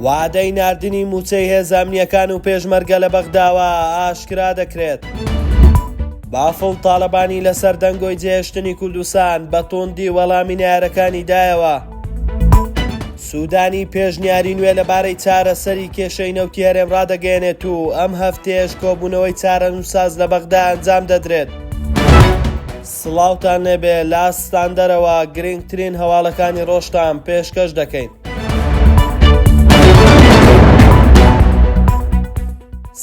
وادەی ناردنی مووچەی هێزە ئەمنییەکان و پێشمەرگە لە بەغداوە ئاشکرا دەکرێت. بافڵ تاڵەبانی لەسەر دەنگۆی جێهێشتنی کوردستان بە توندی وەڵامی نارەکانی دایەوە. سوودانی پێشنیاری نوێ لەبارەی چارەسەری کێشەی نەوتی هەرێم ڕادەگەیەنێت و ئەم هەفتەیەش کۆبوونەوەی چارەنووسساز لە بەغدا ئەنجام دەدرێت. سڵاوتان لێبێ لە ستاندەرەوە گرنگترین هەواڵەکانی ڕۆژتان پێشکەش دەکەین.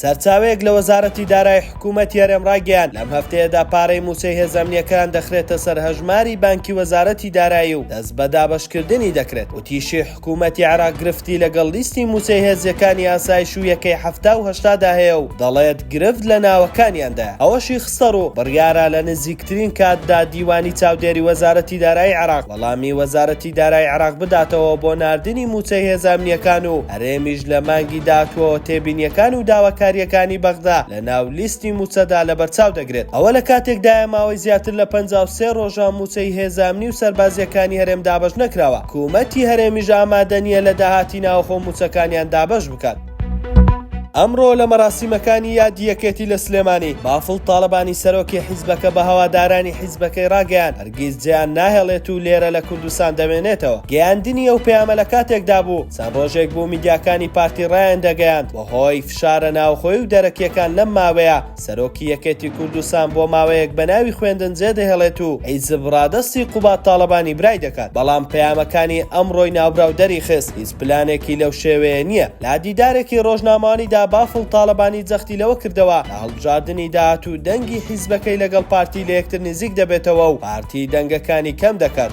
سەرچاوەیەک لە وەزارەتی دارای حکوومەتی هەرێم ڕاگەیان لەم هەفتەیەدا پارەی مووچەی هێزەمنیەکان دەخرێتە سەر هەژماری بانکی وەزارەتی دارایی و دەست بە دابەشکردنی دەکرێت وتیشی حکوومەتی عێراق گرفتی لەگەڵ لیستی مووچەی هێزییەکانی ئاسایش و یەکەی حەفتا و هەشتادا هەیە و دەڵێت گرفت لە ناوەکانیاندایە. ئەوەشی خستەڕوو، بڕیارە لە نزیکترین کاتدا دیوانی چاودێری وەزارەتی دارایی عێراق وەڵامی وەزارەتی دارایی عێراق بداتەوە بۆ ناردنی مووچەی هێزە ئەمنییەکان و هەرێمیش لە مانگی داهاتووەوە تێبینییەکان و داواکارییەکانی بەغدا لەناو لیستی مووچەدا لەبەرچاو دەگرێت. ئەوە لە کاتێکدایە ماوەی زیاتر لە پەنجا و سێ رۆژە مووچەی هێزە ئەمنی و سەربازییەکانی هەرێم دابەش نەکراوە. حکومەتی هەرێمیش ئامادە نییە لە داهاتی ناوەخۆ مووچەکانیان دابەش بکات. ئەمڕۆ لە مەراسیمەکانی یادی یەکێتی لە سلێمانی، بافڵ تاڵەبانی سەرۆکی حیزبەکە بە هەوادارانی حیزبەکەی راگەیاند، هەرگیز جێیان ناهێڵێت و لێرە لە کوردستان دەمێنێتەوە. گەیاندنی ئەو پەیامە لە کاتێکدا بوو، چەند رۆژێک بوو میدیاکانی پارتی رایاندەگەیاند، بەهۆی فشارە ناوخۆی و دەرەکییەکان لەم ماوەیە، سەرۆکی یەکێتی کوردستان بۆ ماوەیەک بە ناوی خوێندن جێدەهێڵێت و حیزب ڕادەستی قوباد تاڵەبانی برای دەکات، بەڵام پەیامەکانی ئەمڕۆی ناوبراو دەریخست هیچ پلانێکی لەو شێوەیە نییە. لە دیدارێکی ڕۆژنامەوانیدا بافڵ تاڵەبانی جەختی لەوە کردەوە کە هەڵبژاردنی داهاتوو دەنگی حیزبەکەی لەگەڵ پارتی لە یەکتر نزیک دەبێتەوە و پارتی دەنگەکانی کەم دەکات.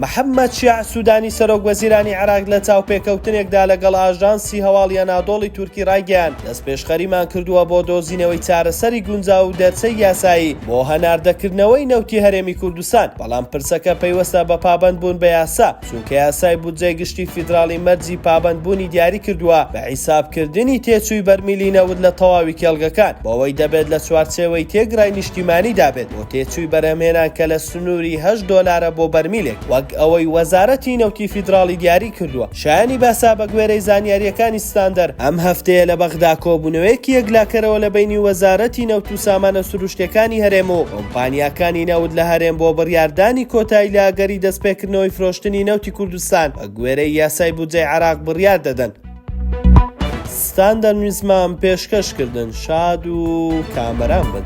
محەممەد شیاع سوودانی سەرۆک وەزیرانی عێراق لە چاوپێکەوتنێکدا لەگەڵ ئاژانسی هەواڵی ئەنادۆڵی تورکی ڕایگەیاند، دەستپێشخەریمان کردووە بۆ دۆزینەوەی چارەسەری گونجاو و دەرچەی یاسایی بۆ هەناردەکردنەوەی نەوتی هەرێمی کوردستان، بەڵام پرسەکە پەیوەستە بە پابەندبوون بە یاسا، چونکە یاسای بودجەی گشتی فیدراڵی مەرجی پابەندبوونی دیاری کردووە بە حیسابکردنی تێچووی بەرمیلی نەوت لە تەواوی کێڵگەکان، بەوەی دەبێت لە چوارچێوەی تێگرای نیشتیمانیدا بێت. تێچووی بەرهەمهێنان کە لە سنووری هەشت دۆلارە بۆ بەرمیلێک، وەک ئەوەی وەزارەتی نەوتی فیدراڵی دیاری کردووە. شایانی باسە، بەگوێرەی زانیارییەکانی ستاندەر، ئەم هەفتەیە لە بەغدا کۆبوونەوەیەکی یەکلاکەرەوە لە بەینی وەزارەتی نەوت و سامانە سروشتییەکانی هەرێم و کۆمپانیاکانی نەوت لە هەرێم بۆ بڕیاردانی کۆتایی لە ئەگەری دەستپێکردنەوەی فرۆشتنی نەوتی کوردستان بەگوێرەی یاسای بودجەی عێراق بڕیار دەدەن. ستان دەمویستمان پێشکەش کردن شاد و کامەران بن.